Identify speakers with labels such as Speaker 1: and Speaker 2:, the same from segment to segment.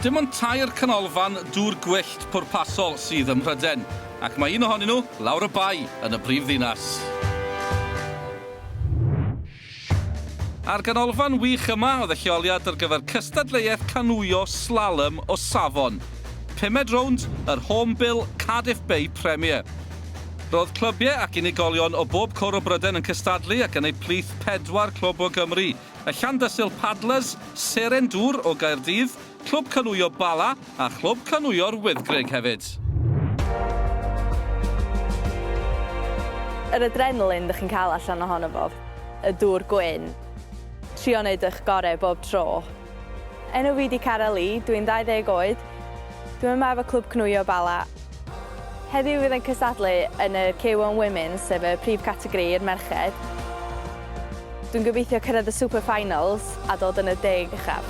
Speaker 1: Dim ond tair canolfan dŵr gwyllt pwrpasol sydd ym Mhrydain, ac mae un ohonyn nhw lawr y bae yn y brifddinas. A'r ganolfan wych yma oedd y lleoliad ar gyfer cystadleuaeth canŵio slalom o safon pumed rownd yr Hornbill Cardiff Bay Premier. Roedd clybiau ac unigolion o bob cwr o Brydain yn cystadlu ac yn eu plith pedwar clwb o Gymru, y Llandysul Paddlers, Seren Dŵr o Gaerdydd, Clwb Canŵio Bala a Chlwb Canŵio'r Wyddgrug hefyd.
Speaker 2: Yr adrenalin dych chi'n cael allan ohono fo, y dŵr gwyn, trio wneud eich gorau bob tro. Enw fi 'di Cara Lee, dwi'n 20 oed, dwi'n yma efo Clwb Cnwio Bala. Heddiw fydd e'n cystadlu yn y K one Women's sef y prif categori i'r merched. Dwi'n gobeithio cyrraedd y Super Finals a dod yn y deg uchaf.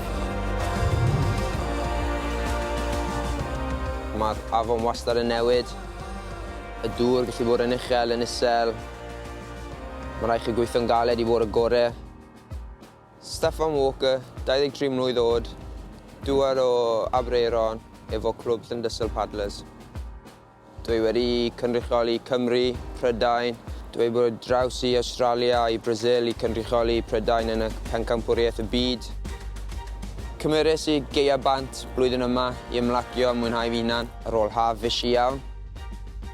Speaker 3: Mae'r afon wastad yn newid. Y dŵr gallu bod yn uchel, yn isel. Mae'n rhaid chi gweithio'n galed i fod y gorau. Steffan Walker, 23 mlwydd oed, dŵad o Aberaeron efo clwb Llyndysul Paddlers. Dwi wedi cynrychioli Cymru, Prydain, dwi wedi bod draws i Awstralia i Brasil i cynrychioli Prydain yn y Pencampwriaeth y Byd. Cymeres i Gaea Bant blwyddyn yma i ymlacio a mwynhau fy hunan ar ôl haf fishi iawn.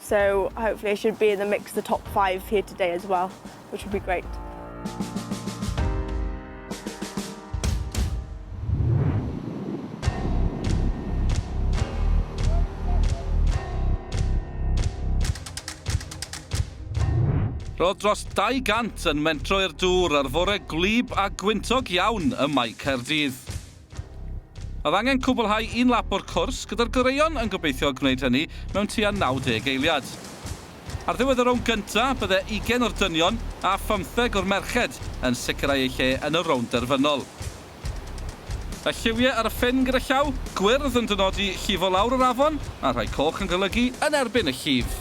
Speaker 4: So hopefully I should be in the mix the top five here today as well, which would be great.
Speaker 1: Roedd dros 200 yn mentro i'r dŵr ar fore gwlyb a gwyntog iawn ym Mae Caerdydd. Oedd angen cwblhau un lap o'r cwrs, gyda'r goreuon yn gobeithio gwneud hynny mewn tua 90 eiliad. Ar ddiwedd y rownd gynta, bydde ugain o'r dynion a phymtheg o'r merched yn sicrhau eu lle yn y rownd derfynol. Y lliwie ar y ffin gyda llaw gwyrdd yn dynodi llifo lawr yr afon, a rhai coch yn golygu yn erbyn y llif.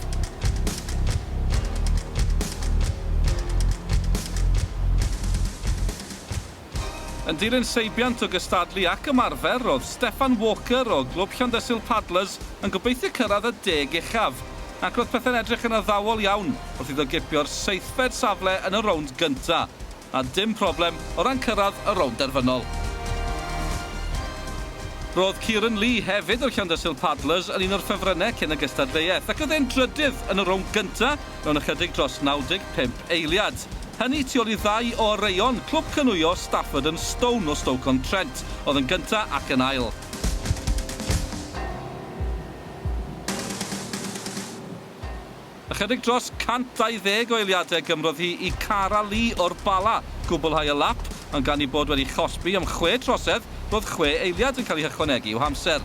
Speaker 1: Yn dilyn seibiant o gystadlu ac ymarfer, roedd Steffan Walker o Glwb Llandysul Paddlers yn gobeithio cyrraedd y deg uchaf, ac roedd pethau'n edrych yn addawol iawn wrth iddo gipio'r seithfed safle yn y rownd gyntaf, a dim problem o ran cyrraedd y rownd derfynol. Roedd Kieran Lee, hefyd o Llandysul Paddlers, yn un o'r ffefrynnau cyn y gystadleuaeth, ac roedd e'n drydydd yn y rownd gyntaf, mewn ychydig dros 95 eiliad. Hynny tu ôl i ddau o oreuon clwb canŵio Stafford and Stone o Stoke-on-Trent oedd yn gyntaf ac yn ail. Ychydig dros 120 o eiliadau gymrodd hi i Cara Lee o'r Bala gwblhau y lap, ond gan ei bod wedi chosbi am chwe trosedd, roedd chwe eiliad yn cael eu hychwanegu i'w hamser.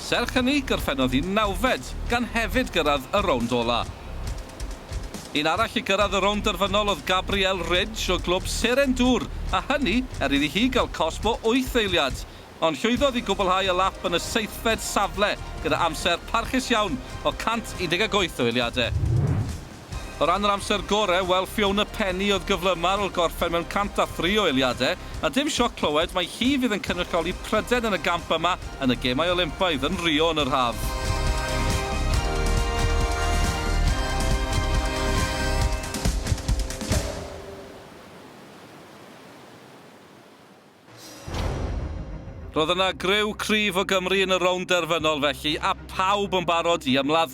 Speaker 1: Serch hynny, gorffennodd hi'n nawfed, gan hefyd gyrraedd y rownd ola'. Un arall i gyrraedd y rownd derfynol oedd Gabrielle Ridge o glwb Seren Dŵr, a hynny er iddi hi gael cosb o wyth eiliad. Ond llwyddodd i gwblhau y lap yn y seithfed safle gyda amser parchus iawn o 118 o eiliadau. O ran yr amser gorau, wel Fiona Penny oedd gyflymaf ar ol gorffen mewn 103 o eiliadau. A dim sioc clywed mai hi fydd yn cynrychioli Prydain yn y gamp yma yn y Gemau Olympaidd yn Rio yn yr haf. Roedd yna griw cryf o Gymru yn y rownd derfynol felly, a phawb yn barod i ymladd.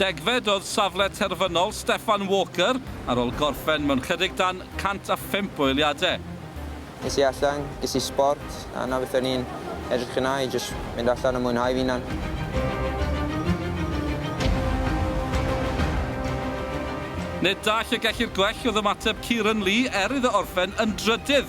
Speaker 1: Degfed oedd safle terfynol Steffan Walker ar ol gorffen mewn chydig dan 105 o eiliadau. Es i
Speaker 3: allan, ges i sbort, a 'na beth o'n i'n edrych yna i jyst mynd allan a mwynhau fy hunan.
Speaker 1: Nid da lle gellir gwell oedd ymateb Kieran Lee er iddo orffen yn drydydd.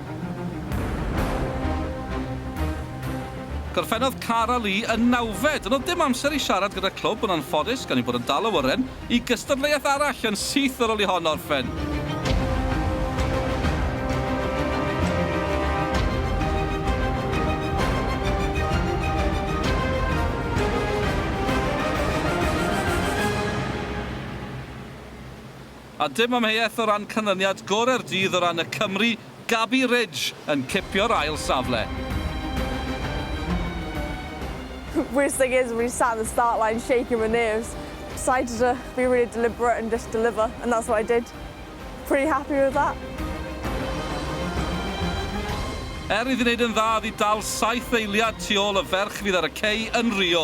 Speaker 1: Gorffennodd Cara Lee yn nawfed. Doedd dim amser i siarad gyda'r clwb yn anffodus gan eu bod yn dal awyren i gystadleuaeth arall yn syth ar ôl i hon orffen. A dim amheuaeth o ran canlyniad gorau'r dydd o ran y Cymry, Gaby Ridge yn cipio'r ail safle.
Speaker 4: Worst thing is when you sat in the start line shaking with nerves, decided to be really deliberate and just deliver and that's what I did. Pretty happy with that.
Speaker 1: Er iddi wneud yn dda, iddi dal saith eiliad tu ôl y ferch fydd ar y cei yn Rio.